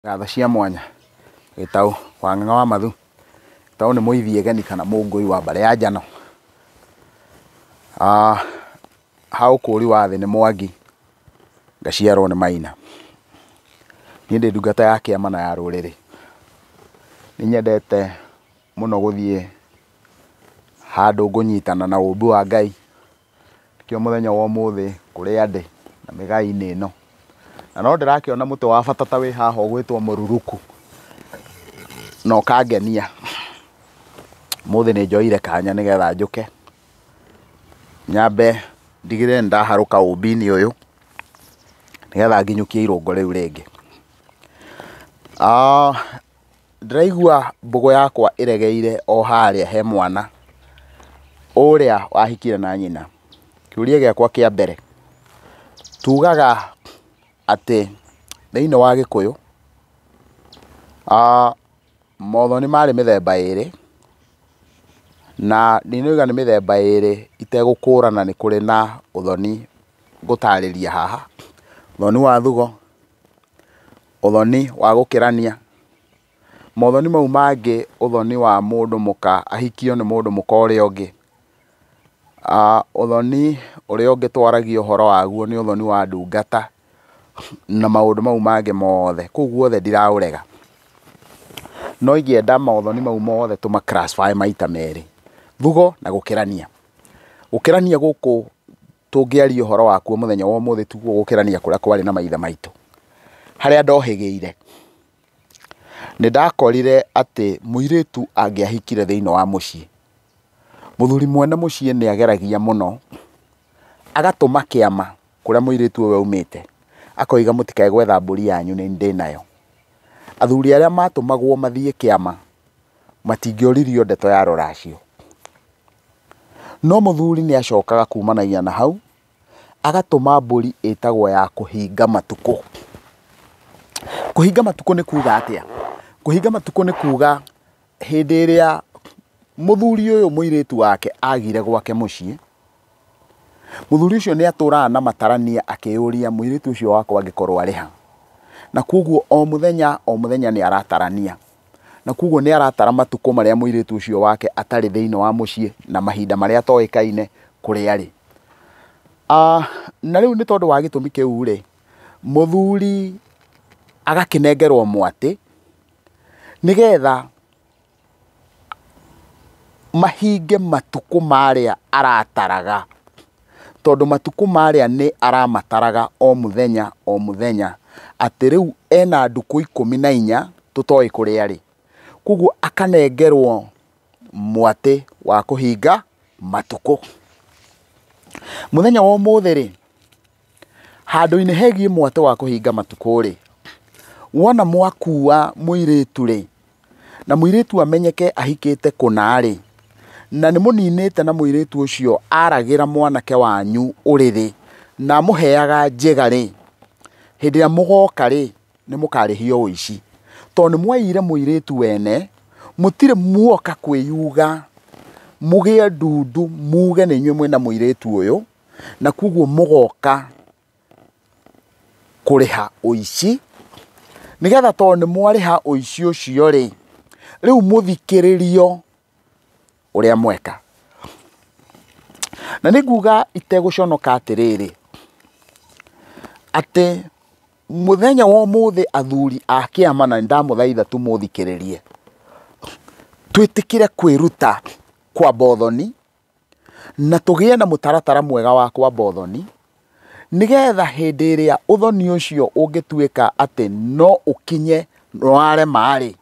Ngatho cia mwanya. Gĩtaũ, Wang'ang'a wa Mathu. Gĩtaũ nĩ mũithie geni kana mũngũi wa mbarĩ ya njano. Ah, ha ũkũũri wa thĩ nĩ Mwangi, ngaciarwo nĩ Maina. Niĩ ndĩ ndungata ya kĩama na ya rũrĩrĩ. Nĩ nyendete mũno gũthiĩ handũ ngũnyitana na ũũmbi wa Ngai. Nĩkĩo mũthenya wa ũmũthĩ kũrĩ andĩ na mĩgaĩ-inĩ ĩno. Na no ndĩrakĩona mũtĩ wa bata ta wĩ haha ũgwĩtwo mũruruku, na ũkangenia. Ũmũthĩ nĩ njoire kanya nĩ getha njũke nyambe ndigĩrĩre nĩ ndaharũka ũmbi-inĩ ũyũ, nĩ getha nginyũkie irũngo rĩu rĩngĩ. Ndĩraigua mbũgũ yakwa ĩregeire o harĩa he mwana ũrĩa wahikire na nyina. Kĩũria gĩakwa kĩa mbere, tugaga atĩ thĩiniĩ wa Gĩkũyũ, mothoni marĩ mĩthemba ĩrĩ, na ndinauga nĩ mĩthemba ĩrĩ itegũkũrana nĩ kũrĩ na ũthoni ngũtarĩria haha, ũthoni wa thugo, Ũthoni wa gũkĩrania. Mothoni mau mangĩ ũthoni wa mũndũ mũka ahikio nĩ mũndũ mũka ũrĩa ũngĩ. Ũthoni ũrĩa ũngĩ twaragia ũhoro waguo nĩ ũthoni wa ndungata na maũndũ mau mangĩ mothe. Kũu guothe ndiraũrega. No ingĩenda mothoni mau mothe tũma classify maita merĩ, thugo na gũkĩrania. Gũkĩrania gũkũ tũngĩaria ũhoro wakuo mũthenya wa ũmũthĩ tiguo gũkĩrania kũrĩa kwarĩ na maithe maitũ harĩa ndohĩgĩire nĩ ndakorire atĩ mũirĩtu angĩahikire thĩinĩ wa mũciĩ mũthuri mwene mũciĩ nĩ ageragia mũno agatũma kĩama kũrĩa mũirĩtu ũyũ aumĩte akoiga mũtikae gwetha mbũri yanyu nĩ ndĩ nayo athuri arĩa matũmagwo mathiĩ kĩama matingĩoririo ndeto ya rũracio No mũthuri nĩ acokaga kumanagia na hau, agatũma mbũri ĩtagwo ya kũhinga matukũ. Kũhinga matukũ nĩ kuuga atĩa? Kũhinga matukũ nĩ kuuga hĩndĩ ĩrĩa mũthuri ũyũ mũirĩtu wake agire gwake mũciĩ, mũthuri ũcio nĩ atũraga na matarania akĩyũria mũirĩtu ũcio wakwa angĩkorwo arĩ ha. Na kwoguo o mũthenya o mũthenya nĩ aratarania. na kwoguo nĩ aratara matukũ marĩa mũirĩtu ũcio wake atarĩ thĩinĩ wa mũciĩ na mahinda marĩa atoĩkaine kũrĩa arĩ. Na rĩu nĩ tondũ wa gĩtũmi kĩu rĩ, mũthuri agakĩnengerwo mwatĩ nĩgetha mahinge matukũ marĩa arataraga. tondũ matukũ marĩa nĩ aramataraga o mũthenya o mũthenya, atĩ rĩu ena ndukũ ikũmi na inya tũtoĩ kũrĩa arĩ. Koguo akanengerwo mwatĩ wa kũhinga matukũ. Mũthenya wa ũmũthĩ rĩ, handũ-inĩ hegiĩ mwatĩ wa kũhinga matukũ rĩ, wona mwakua mũirĩtu rĩ. na mũirĩtu amenyeke ahikĩte kũna-rĩ, na nĩmũninĩte na mũirĩtu ũcio aragĩra mwanake wanyu ũrĩrĩ, na amũheaga njĩga-rĩ, hĩndĩ ĩrĩa mũgoka-rĩ, nĩmũkarĩhio ũici. Tondũ nĩmwaiyire mũirĩtu wene, mũtirĩ muoka kwĩyuga mũgĩe ndundu muge nĩ inyuĩ mwĩna mũirĩtu ũyũ, na kwoguo mũgoka. kũrĩha ũici, nĩgetha tondũ nĩ mwarĩha ũici ũcio rĩ, rĩu mũthikĩrĩrio ũrĩa mweka. Na nĩ nguga itegũconoka atĩrĩrĩ, atĩ mũthenya wa ũmũthĩ athuri a kĩama na nĩ ndamũthaitha tu mũthikĩrĩrie, twĩtĩkĩre kwĩruta kwamba ũthoni, na tũgĩe na mũtaratara mwega wa kwamba ũthoni, nĩgetha hĩndĩ ĩrĩa ũthoni ũcio ũngĩtuĩka atĩ no ũkinye nĩ warema-rĩ,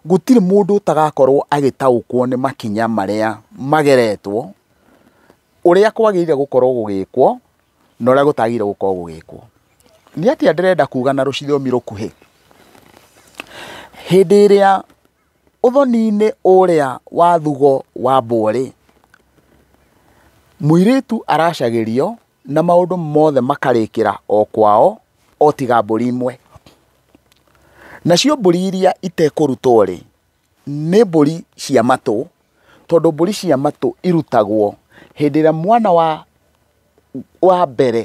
gũtirĩ mũndũ ũtagakorwo agĩtaũkwo nĩ makinya marĩa mageretwo, ũrĩa kwagĩrĩire gũkorwo gũgĩkwo, na ũrĩa gũtagĩrĩire gũkorwo gũgĩkwo. Nĩ atĩa ndĩrenda kuga na rũthiomi rũkuhĩ? Hĩndĩ ĩrĩa Ũthoni-inĩ ũrĩa wa thugo wa mborĩ, mũirĩtu aracagĩrio na maũndũ mothe makarĩkĩra o kwao o tiga mbũri imwe. Nacio mbũri iria itekũrutwo-rĩ, nĩ mbũri cia matũ tondũ mbũri cia matũ irutagwo hĩndĩ ĩrĩa mwana wa wa mbere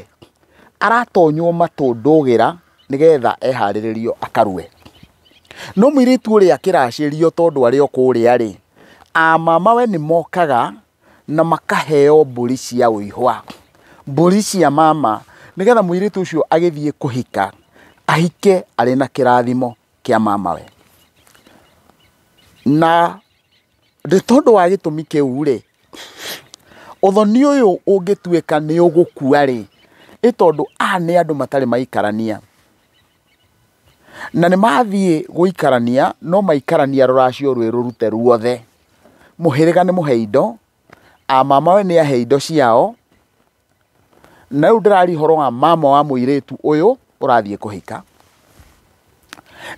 aratonywo matũ ndũgĩra nĩgetha eharĩrĩrio akarue. No mũirĩtu ũrĩa akĩracĩrio tondũ arĩ o kũrĩa rĩ, a mamawe nĩ mokaga na makaheo mbũri cia ũihwa, mbũri cia mama nĩgetha mũirĩtu ũcio agĩthiĩ kũhika ahike arĩ na kĩrathimo kĩa mamawe. Na Nĩ tondũ wa gĩtũmi kĩu rĩ, ũthoni ũyũ ũngĩtuĩka nĩ ũgũkua rĩ, nĩ tondũ aya nĩ andũ matarĩ maikarania. Na nĩ mathiĩ gũikarania no maikarania rũracio rwĩ rũrute ruothe. Mũhĩrĩga nĩ mũhe indo, a mamawe nĩ ahe indo ciao, Na rĩu ndĩraria ũhoro wa mama wa mũirĩtu ũyũ ũrathiĩ kũhika.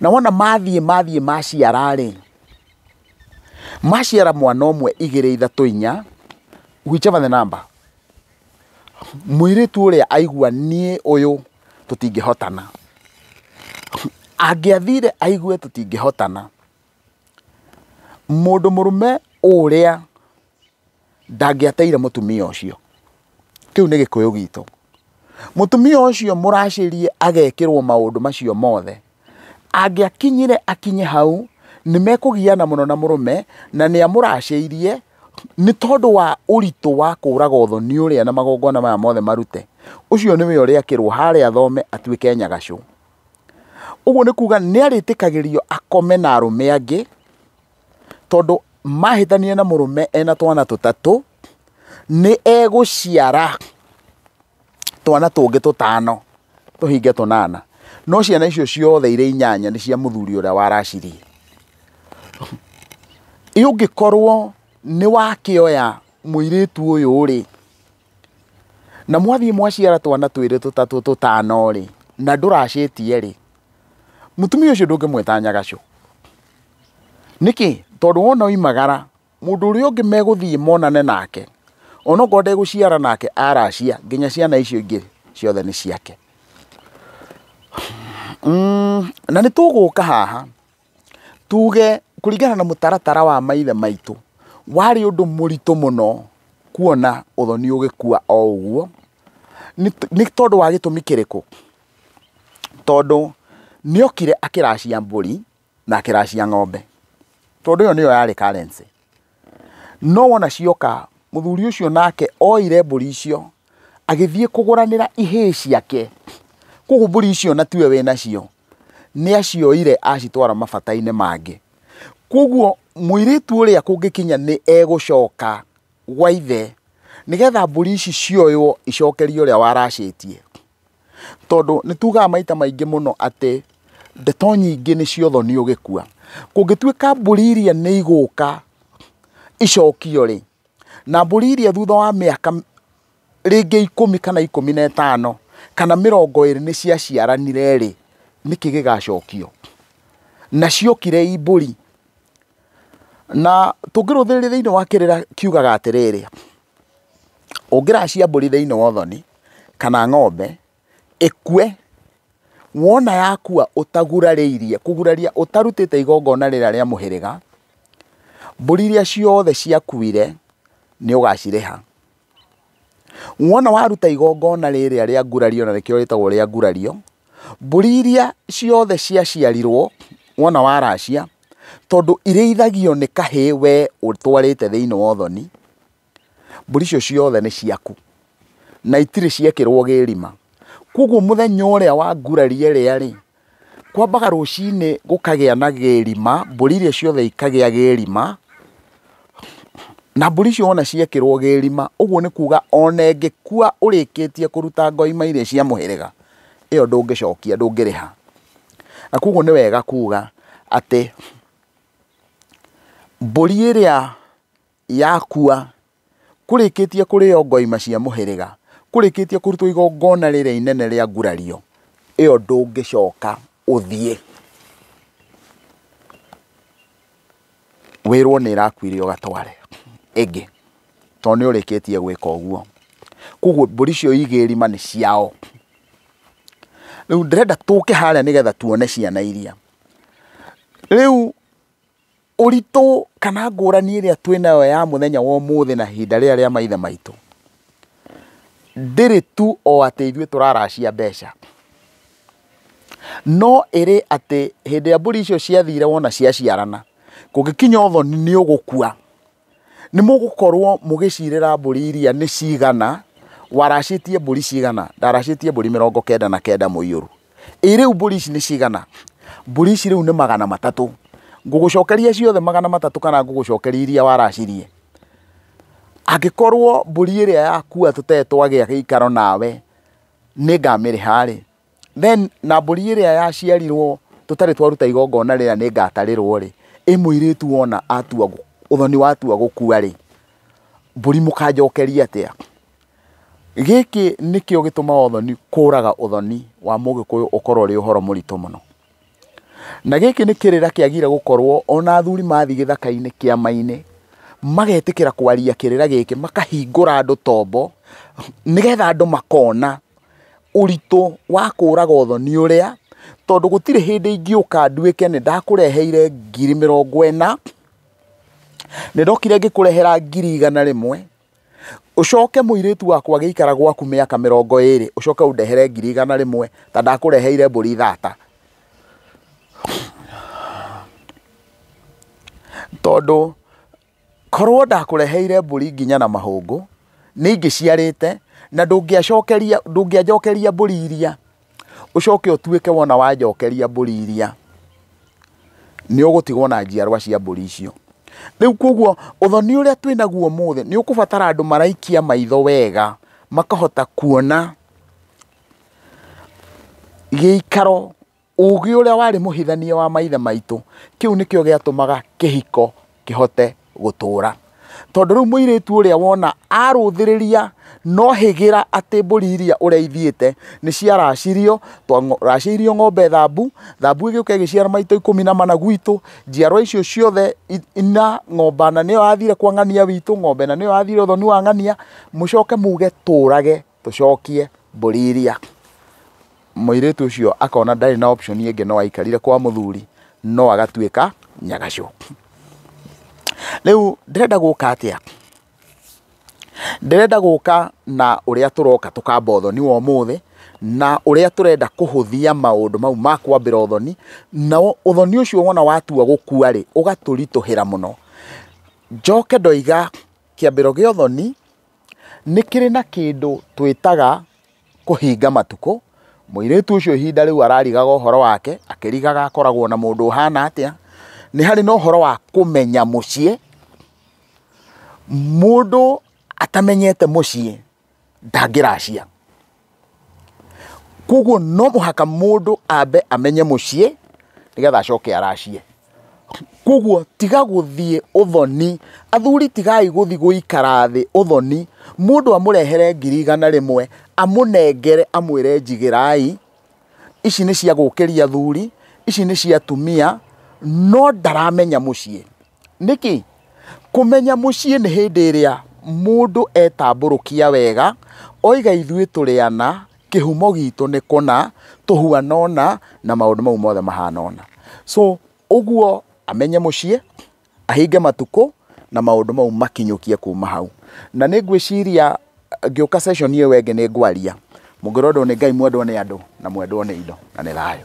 Na wona mathiĩ mathiĩ maciara-rĩ, maciara mwana ũmwe igĩrĩ ithatũ inya, whichever the number, mũirĩtu ũrĩa aigua niĩ ũyũ tũtingĩhotana. Angĩathire aigue tũtingĩhotana, mũndũ mũrũme ũrĩa... ndangĩateire mũtumia ũcio kĩu nĩ gĩkũyũ gitũ mũtumia ũcio mũracĩrie agekĩrwo maũndũ macio mothe angĩakinyire akinye hau nĩ mekũgiana mũno na mũrũme na nĩ amũracĩirie nĩ tondũ wa ũritũ wa kũraga ũthoni ũrĩa na magongona maya mothe marute ũcio nĩwe ũrĩakĩrwo harĩa thome atuĩke nyagacũ, ũguo nĩ kuga nĩ arĩtĩkagĩrio akome na arũme angĩ. tondũ mahĩtania na mũrũme ena twana tũtatũ nĩ egũciara twana tũngĩ tũtano tũhinge tũnana no ciana icio ciothe irĩ inyanya nĩ cia mũthuri ũrĩa waracirie ũngĩkorwo nĩ wakĩoya mũirĩtu ũyũ rĩ Na mwathiĩ mwaciara twana twĩrĩ tũtatũ tũtano-rĩ, na ndũracĩtie-rĩ, mũtumia ũcio ndũngĩmwĩta nyagacũ. Nĩkĩ? Tondũ wona oimagara, mũndũ ũrĩa ũngĩ megũthiĩ monane nake, onokorwo ndegũciara nake, aracia, nginya ciana icio ingĩ ciothe nĩ ciake. Na nĩtũgũka haha. Tuge kũringana na mũtaratara wa maithe maitũ, warĩ ũndũ mũritũ mũno kuona ũthoni ũgĩkua o ũguo, nĩ tondũ wa gĩtũmi kĩrĩkũ? Tondũ nĩokire akĩracia mbũri na akĩracia ng'ombe, tondũ ĩyo nĩyo yarĩ currency. No wona cioka, mũthuri ũcio nake oire mbũri icio agĩthiĩ kũgũranĩra ihĩĩ ciake. Koguo mbũri icio na tiwe wĩ nacio, nĩ acioire acitwara mabata-inĩ mangĩ. Koguo mũirĩtu ũrĩa kũngĩkinya nĩ egũcoka gwa ithe, nĩgetha mbũri ici cioywo icokerio ũrĩa waracĩtie. Tondũ nĩ tugaga maita maingĩ mũno atĩ ndeto nyingĩ nĩ cia ũthoni ũgĩkua. Kũngĩtuĩka mbũri iria nĩ igũka icokio rĩ, na mbũri iria thutha wa mĩaka rĩngĩ ikũmi kana ikũmi na ĩtano kana mĩrongo ĩrĩ nĩ cia ciaranire rĩ, nĩkĩ gĩgacokio? Na ciokire i mbũri. Na tũngĩrũthĩrĩria thĩinĩ wa kĩrĩra kiugaga atĩrĩrĩ. ũngĩracia mbũri thĩinĩ wa ũthoni kana ng'ombe ĩkue, wona yakua ũtagurarĩirie, kũguraria ũtarutĩte igongona rĩrĩa rĩa mũhĩrĩga, mbũri iria ciothe ciakuire nĩ ũgacirĩha. Wona waruta igongona rĩrĩa rĩa ngurario na nĩkĩo rĩtagwo rĩa ngurario. Mbũri iria ciothe ciaciarirwo wona waracia, tondũ irĩithagio nĩ kahĩ we ũtwarĩte thĩiniĩ wa ũthoni, mbũri icio ciothe nĩ ciaku, na itirĩ ciekĩrwo gĩrima. Koguo mũthenya ũrĩa wanguraria ĩrĩa rĩ, kwambaga rũcinĩ gũkagĩa na gĩrima, mbũri iria ciothe ikagĩa gĩrima, na mbũri icio wona ciekĩrwo gĩrima, ũguo nĩ kuga ona ĩngĩkua ũrĩkĩtie kũruta ngoima iria cia mũhĩrĩga, ĩyo ndũngĩcokia, ndũngĩrĩha. Na koguo nĩ wega kuga atĩ mbũri ĩrĩa yakua kũrĩkĩtie kũrĩo ngoima cia mũhĩrĩga, kũrĩkĩtie kũrutwo igongona rĩrĩa inene rĩa gurario, ĩyo ndũngĩcoka ũthiĩ. Wĩrwo nĩ ĩrakuire ũgatware ĩngĩ, tondũ nĩ ũrĩkĩtie gwĩka ũguo. Koguo mbũri icio igĩrĩ irima nĩ ciao. Rĩu ndĩrenda tũke harĩa nĩgetha tuone ciana iria. Rĩu Ũritũ kana ngũrani ĩrĩa twĩnayo ya mũthenya wa ũmũthĩ na ihinda rĩrĩa rĩa maithe maitũ, ndĩrĩ tu o atĩ ithuĩ tũraracia mbeca, no ĩrĩ atĩ hĩndĩ ĩrĩa mbũri icio ciathire wona ciaciarana, kũngĩkinya ũthoni nĩ ũgũkua. nĩ mũgũkorwo mũgĩcirĩra mbũri iria nĩ cigana, waracĩtie mbũri cigana, ndaracĩtie mbũri mĩrongo kenda na kenda mũiyũru. Ĩ rĩu mbũri ici nĩ cigana? Mbũri ici rĩu nĩ magana matatũ. Ngũgũcokeria ciothe magana matatũ kana ngũgũcokeria iria waracirie? Angĩkorwo mbũri ĩrĩa yakua tũtee twagĩa gĩikaro nawe nĩ ngamĩrĩha rĩ, Then na mbũri ĩrĩa yaciarirwo tũtarĩ twaruta igongona rĩrĩa nĩngatarĩrwo-rĩ, ĩ mũirĩtu wona atua ũthoni watua gũkua-rĩ, mbũri mũkanjokeria atĩa? Gĩkĩ nĩkĩo gĩtũmaga ũthoni, kũraga ũthoni wa Mũgĩkũyũ ũkorwo ũrĩ ũhoro mũritũ mũno. Na gĩkĩ nĩ kĩrĩra kĩagire gũkorwo ona athuri mathiĩ gĩthaka-inĩ kĩama-inĩ magetĩkĩra kwaria kĩrĩra gĩkĩ makahingũra andũ tombo nĩgetha andũ makona ũritũ wa kũraga ũthoni ũrĩa tondũ gũtirĩ hĩndĩ ingĩũka nduĩke nĩ ndakũreheire ngiri mĩrongo ĩna, nĩ ndokire ngĩkũrehera ngiri igana rĩmwe. ũcoke mũirĩtu wakwa agĩikara gwaku mĩaka mĩrongo ĩrĩ ũcoke ũndehere ngiri igana rĩmwe ta ndakũreheire mbũri thata tondũ korwo ndakũreheire mbũri nginya na mahũngũ nĩ ingĩciarĩte na ndũngĩacokeria ndũngĩanjokeria mbũri iria ũcoke ũtuĩke wona wanjokeria mbũri iria nĩ ũgũtigwo na njiarwa cia mbũri icio. Rĩu koguo ũthoni ũrĩa twĩ naguo ũmũthĩ nĩ ũkũbatara andũ maraikia maitho wega makahota kuona gĩikaro, ũgĩ ũrĩa warĩ mũhithania wa maithe maitũ. Kĩu nĩkĩo gĩatũmaga kĩhiko... kĩhote gũtũũra. Tondũ rĩu mũirĩtu ũrĩa wona arũthĩrĩria no hĩgĩra atĩ mbũri iria ũreithiĩte nĩ ciaracirio, racĩirio ng'ombe thambu, thambu ĩgĩũka ĩgĩciara maitũ ikũmi na mana gwitũ, njiarwa icio ciothe ina ng'ombe na nĩyo yathire kwa ng'ania witũ, ng'ombe na nĩyo yathire ũthoni wa ng'ania, mũcoke muge tũũrage Tũcokie mbũri iria. Mũirĩtu ũcio akona ndarĩ na option ĩngĩ no aikarire kwa mũthuri no agatuĩka nyagacũ. Rĩu ndĩrenda gũka atĩa? Ndĩrenda gũka na ũrĩa tũroka tũkamba ũthoni wa ũmũthĩ na ũrĩa tũrenda kũhũthia maũndũ mau ma kwambĩra ũthoni na ũthoni ũcio wona watua gũkua rĩ ũgatũritũhĩra mũno. Njoke ndoiga kĩambĩro gĩa ũthoni Nĩ kĩrĩ na kĩndũ twĩtaga kũhinga matukũ, mũirĩtu ũcio ihinda rĩu ararigaga ũhoro wake, akĩrigaga akoragwo na mũndũ ũhana atĩa, nĩ harĩ na ũhoro wa kũmenya mũciĩ, mũndũ atamenyete mũciĩ ndangĩracia. Koguo no mũhaka mũndũ ambe amenye mũciĩ nĩgetha acoke aracie. Koguo tiga gũthiĩ ũthoni, athuri tigai gũthiĩ gũikara thĩ ũthoni, mũndũ amũrehere ngiri igana rĩmwe, amũnengere amwĩre njigĩrai, ici nĩ cia gũkĩria athuri, ici nĩ cia atumia, no ndaramenya mũciĩ. Nĩkĩ? Kũmenya mũciĩ nĩ hĩndĩ ĩrĩa mũndũ etambũrũkia wega, oiga ithuĩ tũrĩ ana, kĩhumo gitũ nĩ kũna, tũhuana ũna, na maũndũ mau mothe mahana ũna. So, ũguo amenye mũciĩ, ahinge matukũ, na maũndũ mau makinyũkie kuma hau. Na nĩ ngwĩciria ngĩũka session ĩyo ĩngĩ nĩ ngwaria, mũngĩrwo andũ nĩ Ngai mwendwo nĩ andũ, na mwendwo nĩ indo, na nĩ thayũ.